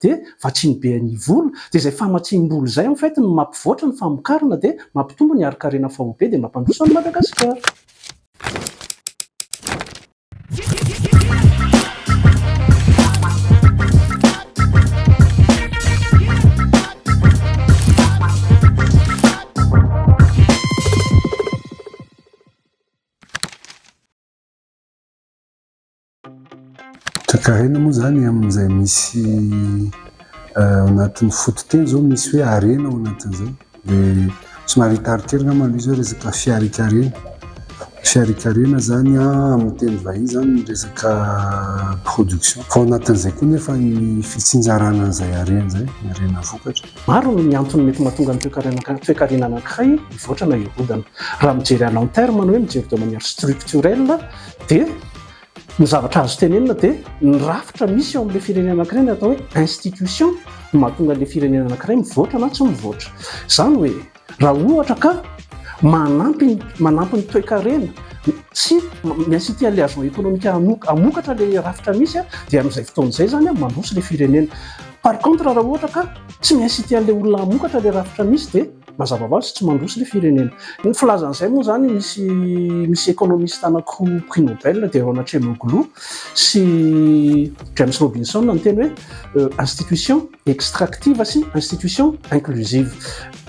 dia vatsiny be an'i Ivola, dia izay famatsiam-bola izay en fait no mampivoatra ny famokarana dia mampitombo ny harinkarena faobe dia mampandroso an'i Madagasikara. Toekarena moa izany amin'izay misy ao anatin'ny fototeny izao misy hoe harena ao anatin'izay. Dia somary hitarikely angamba aloha izy hoe resaka fiharikarena. Fiharikarena izany amin'ny teny vahiny izany ny resaka production. Fa ao anatin'izay koa nefa ny fitsinjarana an'izay harena izay, ny harena vokatra. Maro ny antony mety mahatonga ny toekarena anankiray hivoatra na hirodana. Raha mijery à long terme na hoe mijery de manière structurelle dia. Ny zavatra azo tenenina dia ny rafitra misy eo amin'ilay firenena anankiray ny atao hoe institution no mahatonga ilay firenena anankiray mivoatra na tsy mivoatra. Izany hoe raha ohatra ka manampy ny manampy ny toekarena sy mi-inciter an'ilay agent économique hanoka- hamokatra ilay rafitra misy dia amin'izay fotoana izay izany mandroso ilay firenena. Par contre raha ohatra ka tsy mi-inciter an'ilay olona hamokatra ilay rafitra misy dia Mazava ho azy tsy mandroso ilay firenena. Ny filazan'izay moa izany misy misy économiste anankiroa prix Nobel dia Ron Acemoglu sy James Robinson no niteny hoe euh, institution extractive sy institution inclusive.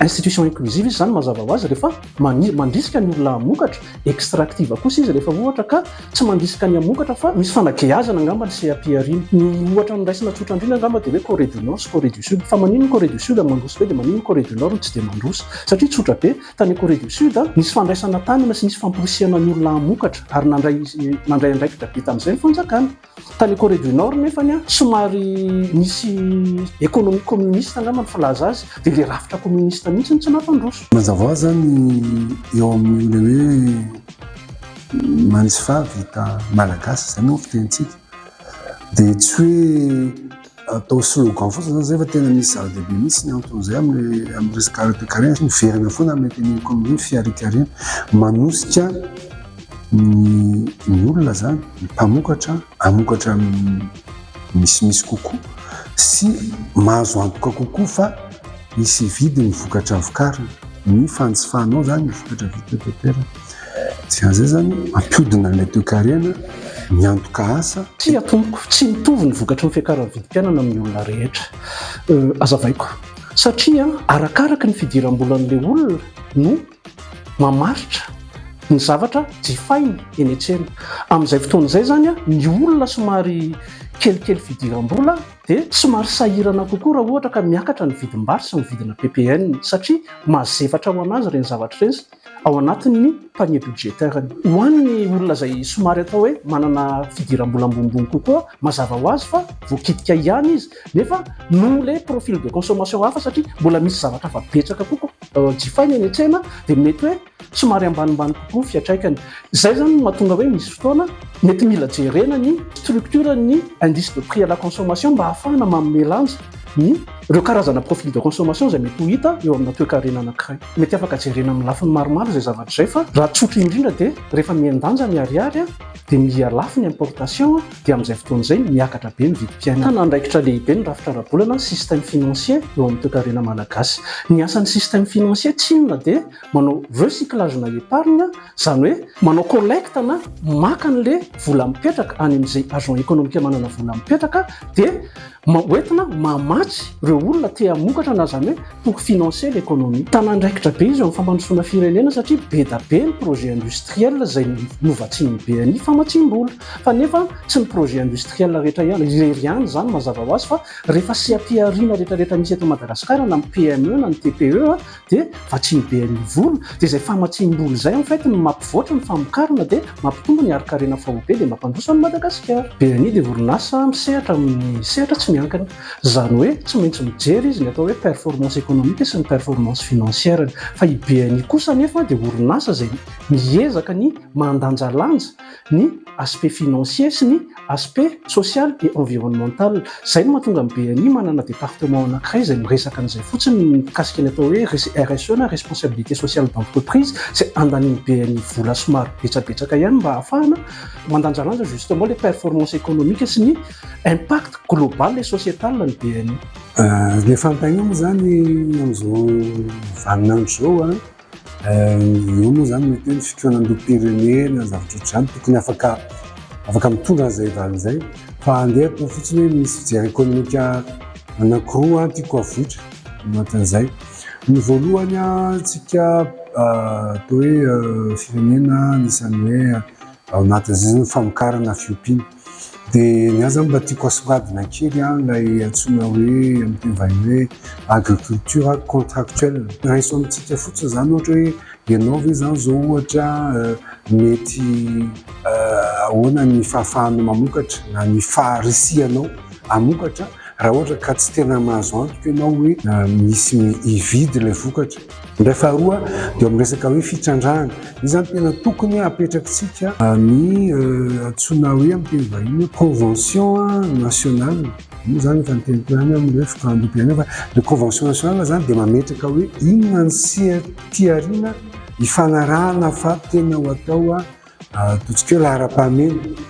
Institution inclusive izy izany mazava ho azy rehefa mandrisika ny olona hamokatra extractive kosa izy rehefa ohatra ka tsy mandrisika ny hamokatra fa misy fanageazana angamba ny seha-pihariana. Ny ohatra noraisina tsotra indrindra angamba dia hoe Corée du Nord sy Corée du Sud. Fa maninona i Corée du Sud no mandroso be dia maninona i Corée du Nord no tsy dia mandroso? Satria tsotra be, tany Corée du Sud, nisy fandraisana tanana sy nisy famporisihana ny olona hamokatra ary nandray nandray andraikitra be tamin'izay ny fanjakana. Tany Corée du Nord nefany an, somary nisy économie communiste angamba ny filaza azy, dia ilay rafitra communiste mihitsy no tsy nampandroso. Mazava hoazy an, eo amin'ilay hoe manisy faha vita malagasy, izay moa ny fitenintsika, dia tsy hoe. atao slogan fotsiny zany zay fa tena misy zava-dehibe mihitsy ny anton'izay amin'ny amin'ny resaka ara-toekarena sy miverina foana amin'ny teny ekonomia ny fiarikarena manosika ny ny olona zany ny mpamokatra amokatra misimisy kokoa sy mahazo antoka kokoa fa misy vidiny vokatra vokarina ny fanjifanao zany ny vokatra vita teto an-toerana Tsy aza izany, ampiodina an'ilay toekarena ny antoka asa. Tsia tompoko, tsy mitovy ny vokatry ny fiakaran'ny vidim-piainana amin'ny olona rehetra. Hazavaiko. Satria arakaraky ny fidiram-bolan'ilay olona no mamaritra ny zavatra jifainy eny an-tsena. Amin'izay fotoana izay izany, ny olona somary kelikely fidiram-bola dia somary sahirana kokoa raha ohatra ka miakatra ny vidim-bary sy ny vidina ppn, satria mazefatra ho an'azy ireny zavatra ireny. ao anatin'ny panier budgetaire-ny. Ho an'ny olona izay somary atao hoe manana fidiram-bola ambonimbony kokoa, mazava ho azy fa voakitika ihany izy, nefa noho ilay profil de consommation hafa satria mbola misy zavatra hafa betsaka kokoa jifaina eny an-tsena dia mety hoe somary ambanimbany kokoa ny fiantraikany. Izay izany no mahatonga hoe misy fotoana mety mila jerena ny structure-n'ny indice de prix à la consommation mba hahafahana manome lanja ny ireo karazana profil de consommation izay mety ho hita eo amina toekarena anankiray. Mety afaka jerena amin'ny lafiny maromaro izay zavatra izay fa raha tsotra indrindra dia rehefa mihen-danja ny ariary dia miha lafo ny importation dia amin'izay fotoana izay miakatra be ny vidim-piainana. Mitana andraikitra lehibe ny rafitra ara-bolana ny système financier eo amin'ny toekarena malagasy. Ny asan'ny système financier tsy inona dia manao recyclage na épargne izany hoe manao collecte na maka an'ilay vola mipetraka any amin'izay agent économique manana vola mipetraka dia Hoentina mamatsy ireo olona te hamokatra na izany hoe pour financer l'économie. Tana andraikitra be izy eo amin'ny fampandrosoana firenena satria be da be ny projet industriel izay novatsian'ny BNI famatsiam-bola. Fa nefa tsy ny projet industriel rehetra ihany, irery ihany izany mazava ho azy fa rehefa seha-pihariana rehetrarehetra misy eto Madagasikara na ny PME na ny TPE dia vatsiny be ny vola dia izay famatsiam-bola izay en fait no mampivoatra ny famokarana dia mampitombo ny harinkarena faobe dia mampandroso an'i Madagasikara. BNI dia orinasa misehatra amin'ny sehatra tsy miankina. Izany hoe tsy maintsy mijery izy ny atao hoe performance économique sy ny performance financière-ny. Fa i BNI kosa anefa dia orinasa izay miezaka ny mandanjalanja ny aspect financier sy ny aspect social et environnemental. Izay no mahatonga ny BNI manana département anankiray izay miresaka an'izay fotsiny mikasika ny atao hoe RSE na responsabilité sociale d'entreprise izay andanian'ny BNI vola somary betsabetsaka ihany mba ahafahana mandanjalanja justement ilay performance économique sy ny impact global et sociétal ny BNI. Ny fanontaniana moa izany amin'izao vaninandro izao Eo moa izany mety hoe ny fitohanandoham-pirenena, zavatra ohatr'izany, tokony afaka afaka mitondra an'izay valiny izay. Fa andehako fotsiny hoe misy fijery ekonomika anankiroa tiako avoitra anatin'izay. Ny voalohany, isika atao hoe firenena anisan'ny hoe ao anatin'izay izany famokarana fiompiana. Dia ny ahy izany mba tiako asongadina kely ilay antsoina hoe amin'ny teny vahiny hoe agriculture contractuelle. Raiso amintsika fotsiny izany ohatra hoe ianao ve izany izao ohatra mety ahoana ny fahafahanao mamokatra na ny faharisihanao hamokatra raha ohatra ka tsy tena mahazo antoka ianao hoe misy hividy ilay vokatra. Indray faharoa dia amin'ny resaka hoe fitrandrahana. Io izany tena tokony hapetrakitsika ny antsoina hoe amin'ny teny vahiny hoe convention nationale. Io izany efa niteniko ihany amin'ny hoe fitondram-bolam-pirenena fa ilay convention nationale izany dia mametraka hoe inona ny sehatry aoriana hifanarahana fa tena ho atao ataontsika hoe laharam-pahamehana.